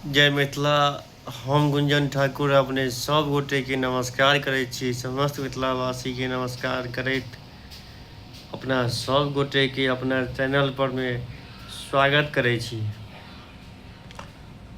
जय मिथिला हम गुंजन ठाकुर अपने सब गोटे के नमस्कार करे छी समस्त मिथिलावासी के नमस्कार करैत अपना सब गोटे के अपना चैनल पर में स्वागत करे छी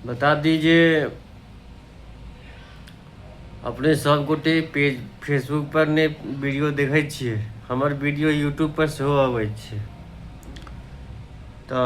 बता दी जे अपने सब गोटे पेज फेसबुक पर ने वीडियो देखे छे हमर वीडियो यूट्यूब पर सेहो अबै छे तो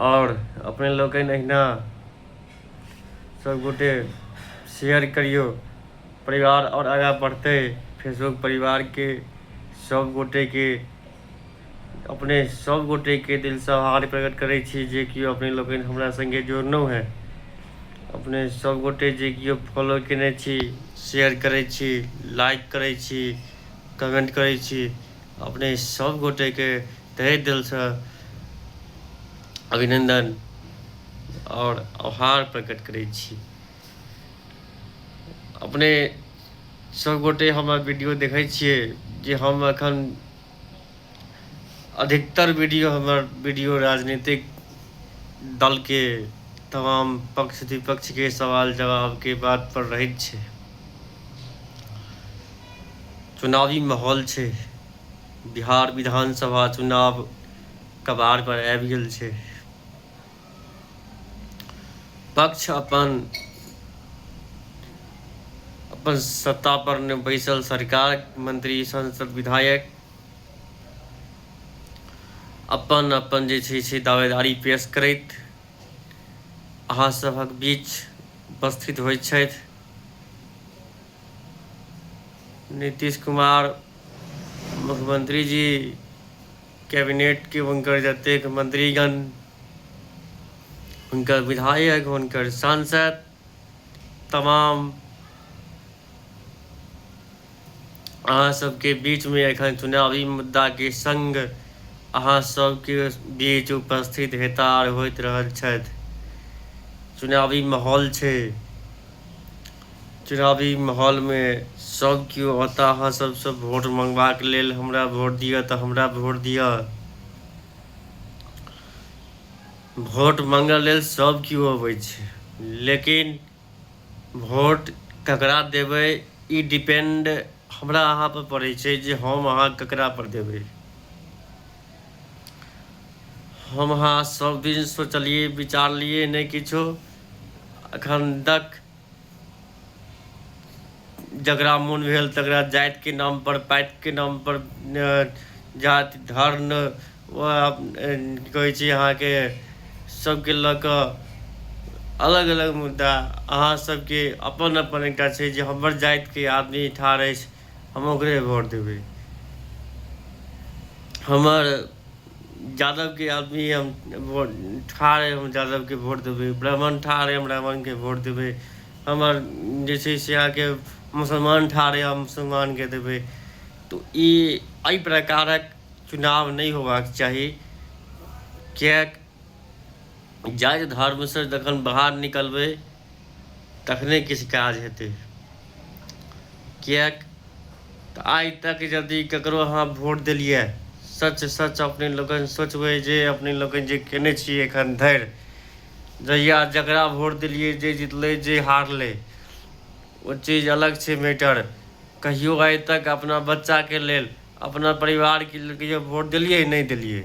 आओर अपने लोकनि अहिना सभगोटे शेयर करियौ परिवार आओर आगाँ बढ़तै फेसबुक परिवारके सभगोटेके अपने सभगोटेके दिलसँ आभार प्रकट करै छी जे केओ अपने लोकनि हमरा सङ्गे जोड़लहुँ हेँ अपने सभगोटे जे केओ फॉलो कयने छी शेयर करै छी लाइक करै छी कमेंट करै छी अपने सब गोटे के तहे दिल से अभिनंदन और आभार प्रकट करे छी अपने सब गोटे हमर वीडियो देखे छे जे हम अखन अधिकतर वीडियो हमर वीडियो राजनीतिक दल के तमाम पक्ष विपक्ष के सवाल जवाब के बात पर रहित छे चुनावी माहौल छै बिहार विधानसभा चुनाव कबाड़ पर आबि गेल छै पक्ष अपन अपन सत्ता पर ने बैसल सरकार मंत्री संसद विधायक अपन अपन जे छै से दावेदारी पेश करैत अहाँ सभक बीच उपस्थित होइत छथि नीतीश कुमार मुख्यमंत्री जी कैबिनेटके हुनकर जतेक मंत्रीगण हुनकर विधायक हुनकर सांसद तमाम अहाँ सबके बीचमे एखन चुनावी मुद्दाके संग अहाँ सबके बीच उपस्थित हेता आर होइत रहल छथि चुनावी माहौल छै चुनावी माहौलमे सभ केओ अतऽ अहाँ सभसँ वोट मँगबाक लेल हमरा वोट दिअ तऽ हमरा वोट दिअ वोट मँगऽ लेल सभ केओ अबै छै लेकिन वोट ककरा देबै ई डिपेंड हमरा अहाँपर पड़ै छै जे हम अहाँ ककरापर देबै हम अहाँ सभदिन सोचलियै विचारलियै नहि किछो एखन तक जकरा मोन भेल तकरा जातिके नामपर पातिके नामपर जाति धर्म की कहै छै अहाँके सभके लऽ कऽ अलग अलग मुद्दा अहाँ सभके अपन अपन एकटा छै जे हमर जातिके आदमी ठाढ़ अछि हम ओकरे भोट देबै हमर यादवके आदमी हम वोट ठाढ़ अइ हम यादवके वोट देबै ब्राह्मण ठाढ़ अइ हम ब्राह्मणके वोट देबै हमर जे छै से अहाँके मुसलमान ठाढ़ अइ हम मुसलमानके देबै तऽ ई एहि प्रकारक चुनाव नहि होयबाक चाही किएक जाइत धर्मसँ जखन बाहर निकलबै तखने किछु काज हेतै किएक तऽ आइ तक यदि ककरो अहाँ वोट देलियै सच सच अपने लोकनि सोचबै जे अपने लोकनि जे कयने छी एखन धरि जहिया जकरा वोट देलियै जे जितलै जे हारलै ओ चीज अलग छै मैटर कहियो आइ तक अपना बच्चाके लेल अपना परिवारके लेल कहियो वोट देलियै नहि देलियै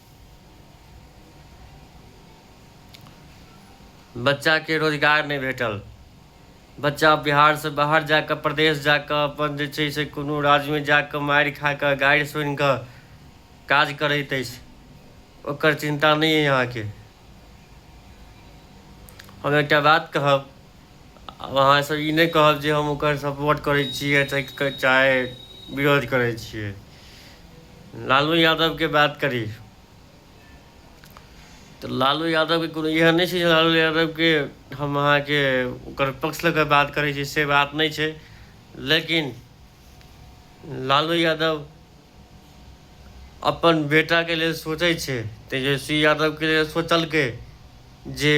बच्चाके रोजगार नहि भेटल बच्चा बिहारसँ बाहर जा कऽ प्रदेश जा कऽ अपन जे छै से कोनो राज्यमे जा कऽ मारि खा कऽ गारि सुनि कऽ काज करैत अछि ओकर चिन्ता नहि अइ अहाँके हम एकटा बात कहब आब अहाँ एहिसँ ई नहि कहब जे हम ओकर सपोर्ट करै छियै चाहे विरोध करै छियै लालू यादवके बात करी तऽ लालू यादवके कोनो इएह नहि छै जे लालू यादवके हम अहाँके ओकर पक्ष लऽ कऽ बात करै छी से बात नहि छै लेकिन लालू यादव अपन बेटाके लेल सोचै छै तेजस्वी यादवके लेल सोचलकै जे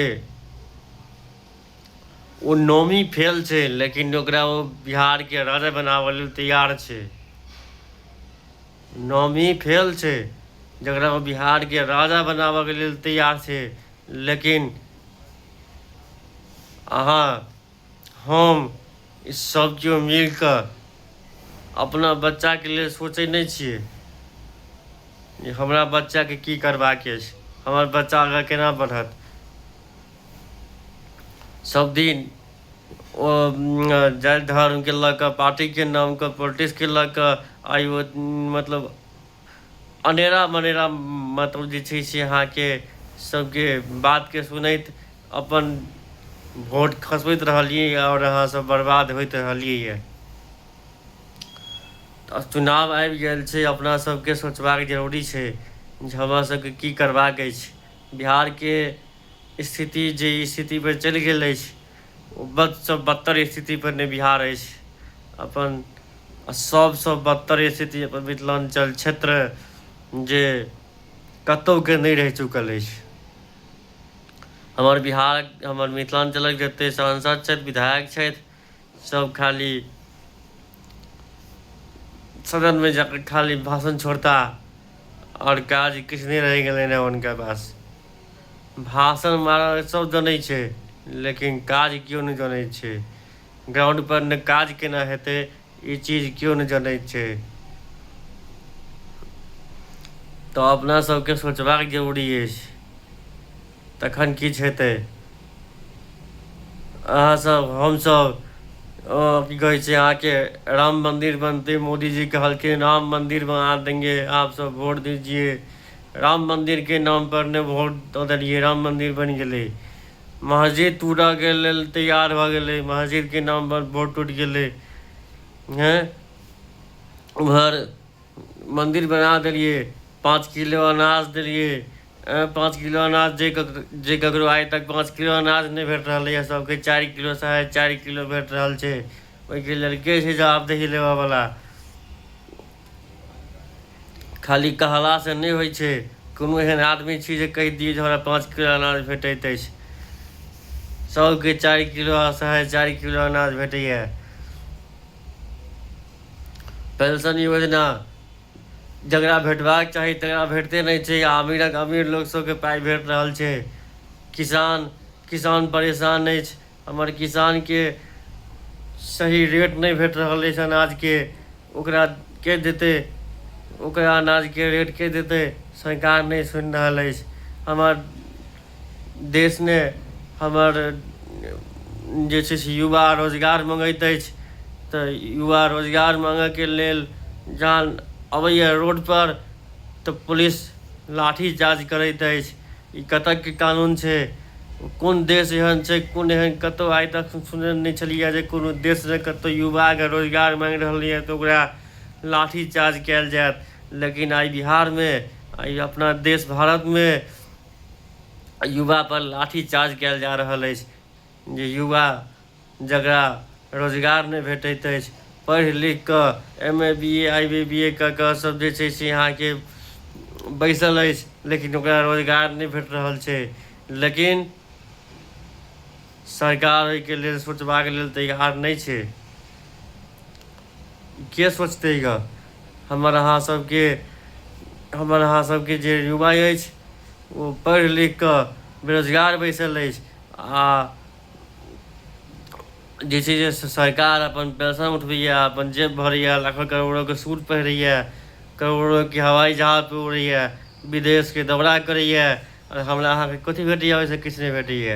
ओ नौमी फेल छै लेकिन ओकरा ओ बिहारके राजा बनाबऽ लेल तैयार छै नौमी फेल छै जकरा ओ बिहारके राजा बनाबऽके लेल तैयार छै लेकिन अहाँ हम ई सब केओ मिल कऽ अपना बच्चाके लेल सोचै नहि छियै जे हमरा बच्चाके की करबाक अछि हमर बच्चा आगाँ केना बढ़त सब दिन ओ जाति धर्मके लऽ कऽ पार्टीके नाम कऽ पोलिटिक्सके लऽ कऽ आइ ओ मतलब अनेरा मनेरा मतलब जे छै से अहाँके सबके बातके सुनैत अपन वोट खसबैत रहलियै आओर अहाँसब बर्बाद होइत रहलियै यऽ तऽ चुनाव आबि गेल छै अपना सबके सोचबाक जरूरी छै जे हमरा सबके की करबाक अछि बिहारके स्थिति जे स्थिति पर चलि गेल अछि बदसँ बदतर स्थितिपर नहि बिहार अछि अपन सभसँ बदतर स्थिति अपन मिथिलाञ्चल क्षेत्र जे कतहुके नहि रहि चुकल अछि हमर बिहार हमर मिथिलाञ्चलक जतेक सांसद छथि विधायक छथि सभ खाली सदनमे जाकर खाली भाषण छोड़ता आओर काज किछु नहि रहि गेलनि हेँ हुनका पास भाषण मारल सब जनै छै लेकिन काज केओ नहि जनै छै ग्राउंड पर ने काज केना हेतै ई चीज केओ नहि जनै छै तऽ अपना सबके सोचबाक जरूरी अछि तखन किछु हेतै अहाँसभ हमसभ की कहै छै अहाँके राम मंदिर बनते मोदीजी कहलखिन राम मंदिर बना देंगे आप सब वोट दीजिए राम मंदिर के नाम पर ने वोट द देलिए राम मंदिर बन गेले मस्जिद टूटा के लेल तैयार भ गेले मस्जिद के नाम पर वोट टूट गेले हैं उधर मंदिर बना देलिए पाँच किलो अनाज देलिए पाँच किलो अनाज जे जे ककरो आइ तक पाँच किलो अनाज नहीं भेट रहा है सबके चार किलो साढ़े चार किलो भेट रहा है ओहिके लेल के छै जवाबदेही लेबऽ वाला खाली कहलासँ नहि होइ छै कोनो एहन आदमी छी जे कहि दियै जे हमरा पाँच किलो अनाज भेटैत अछि सभके चारि किलो असहाय चारि किलो अनाज भेटैए पेंशन योजना जकरा भेटबाक चाही तकरा भेटते नहि छै अमीरक अमीर लोक सभके पाइ भेट रहल छै किसान किसान परेशान अछि हमर किसान के सही रेट नहीं भेट रहल अछि अनाज के ओकरा के देते ओकरा अनाज के रेट के देते सरकार नहीं सुन रहल अछि हमर देश ने हमर जे छै से युवा रोजगार मंगैत अछि तो युवा रोजगार मांगे के लेल जान अबैया रोड पर तो पुलिस लाठी चार्ज करैत अछि ई कतक के कानून छै कोन देश एहन छै कोन एहन कतौ आइ तक सुनने नहि छलियै जे कोनो देश जे कतौ युवा के रोजगार मांगि रहल यऽ तऽ ओकरा लाठी चार्ज कयल जायत लेकिन आइ बिहार मे आइ अपना देश भारत मे युवा पर लाठी चार्ज कयल जा रहल अछि जे युवा जकरा रोजगार नहि भेटैत अछि पढ़ि लिखि कऽ M A B A I B B A कऽ कऽ सभ जे छै से अहाँके बैसल अछि लेकिन ओकरा रोजगार नहि भेट रहल छै लेकिन सरकार ओहिके लेल सोचबाक लेल तैयार नहि छै के सोचतै गऽ हमर अहाँ सभके हमर अहाँ सभके जे युवा अछि ओ पढ़ि लिखि कऽ बेरोजगार बैसल अछि आ जे छै जे सरकार अपन पेंशन उठबैए अपन जेब भरैए लाखो करोड़ोके सूट पहिरैए करोड़ोके हवाई जहाज पर उड़ैए विदेशके दौरा करैए आओर हमरा अहाँके कथी भेटैए ओहिसँ किछु नहि भेटैए